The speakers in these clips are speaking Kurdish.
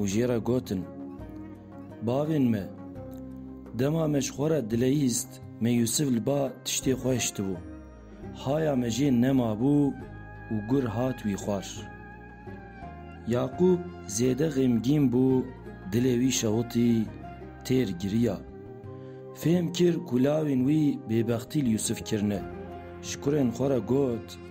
Û jê re gotin, Bavên me! Dema me ji xwe re dileyîst me Yûsif li ba tiştê xwe hiştibû. Haya me jê nemabû û gur hat wî xwar. Yaqûb zêde xemgîn bû, dilê wî şewitî, têr giriya. Fêm kir ku lawên wî bêbextî li Yûsif kirine. Ji kurên xwe re got,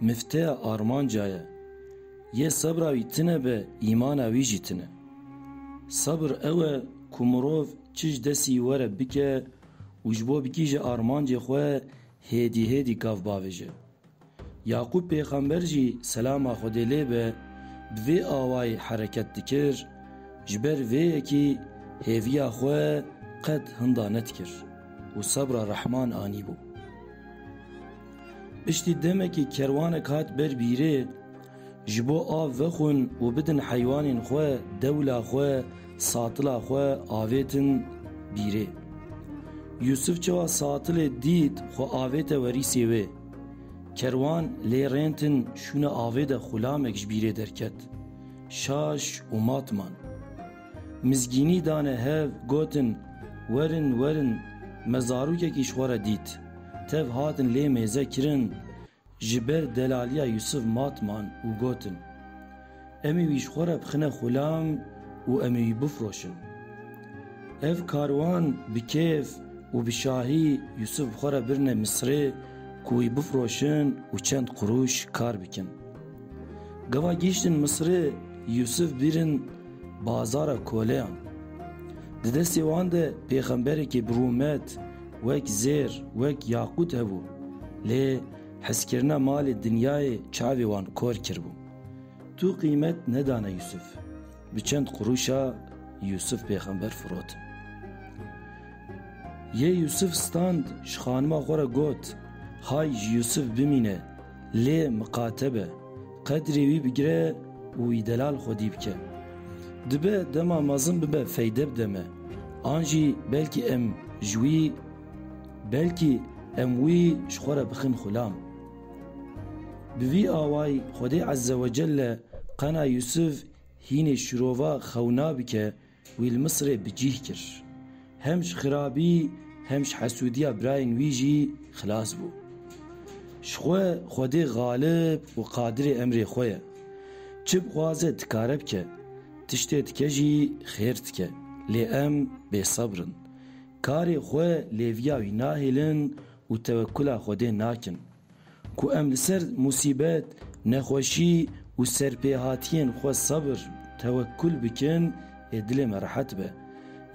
Mifteya armanca ye. Yê sebra wî tune be îmana wî jî tune. Sebr ew e ku mirov çij desî were bike û ji bo bigihîje armancê xwe hêdî hêdî gav bavêje. Yaqûb pêxember jî selama Xwedê lê be bi vê awayî hereket dikir, ji ber vê yekî hêviya xwe qet hinda nedikir û sebra rehman anîbû. Piştî demekî kerwanek hat ber bîrê, ji bo av vexwin û bidin heywanên xwe, dewla xwe, satila xwe avêtin bîrê. Yûsif çawa satilê dît xwe avête werîsê wê. Kerwan lê rêntin şûne avê de xulamek ji bîrê derket. Şaş û mat man. Mizgînî dane hev, gotin, Werin, werin, me zarokekî ji xwe re dît. Tev hatin lê mêze kirin, ji ber delalîya Yûsif mat man û gotin, Em ê wî ji xwe re bixine xulam û em ê wî bifroşin. Ev karwan bi kêf û bi şahî Yûsif bi xwe re birine Misirê ku wî bifroşin û çend qurûş kar bikin. Gava gihîştin Misirê Yûsif bîrin bazara koleyan. Di destê wan de pêxemberekî bi rûmet, wek zêr, wek yaqût hebû. Lê hizkirina malê dinyayê çavê wan kor kiribû. Tu qîmet nedane Yûsif. Bi çend qurûşa Yûsif pêxember firotin. Yê Yûsif stand ji xanima xwe re got, Hay ji Yûsif bimîne. Lê miqate be, qedrê wî bigire û wî delal xwedî bike. Dibe dema mezin bibe feyde bide me. An jî belkî em ji wî belkî em wî ji xwe re bixin xulam. Bi vî awayî Xwedê Ezzewecelle qena Yûsif hînê şirova xewna bike Wî li Misirê bi cîh kir. Hem ji xirabî hem ji hesûdiya birayên wî jî xilas bû. Ji xwe Xwedê xalib û qadirê emrê xwe ye. Çi bixwaze dikare bike. Tiştê dike jî xêr dike. Lê em bêsebr in. Karê xwe lêviya wî nahêlin û tewekkula Xwedê nakin. Ku em li ser musîbet, nexweşî û serpêhatiyên xwe sebir, tewekkul bikin ê dilê me rehet be,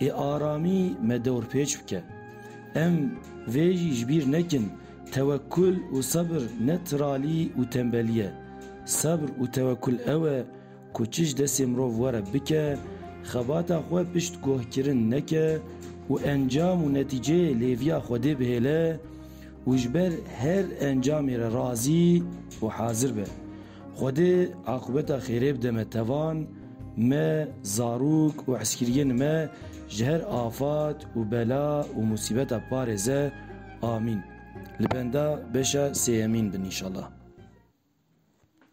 ê aramî me dewr pêç bike. Em vê jî ji bîr nekin, tewekkul û sebir ne tiralî û tembelî ye. Sebir û tewekkul ew e Ku çi ji destê mirov were bike, xebata xwe pişt guh kirin neke û encam û netîceyê lêviya Xwedê bihêle û ji ber her encamê re razî û hazir be. Xwedê aqibeta xêrê bide me tevan, me, zarok û hizkiriyên me ji her afat û bela û musîbeta parêze. Amîn. Li benda beşa sêyemîn bin înşallah.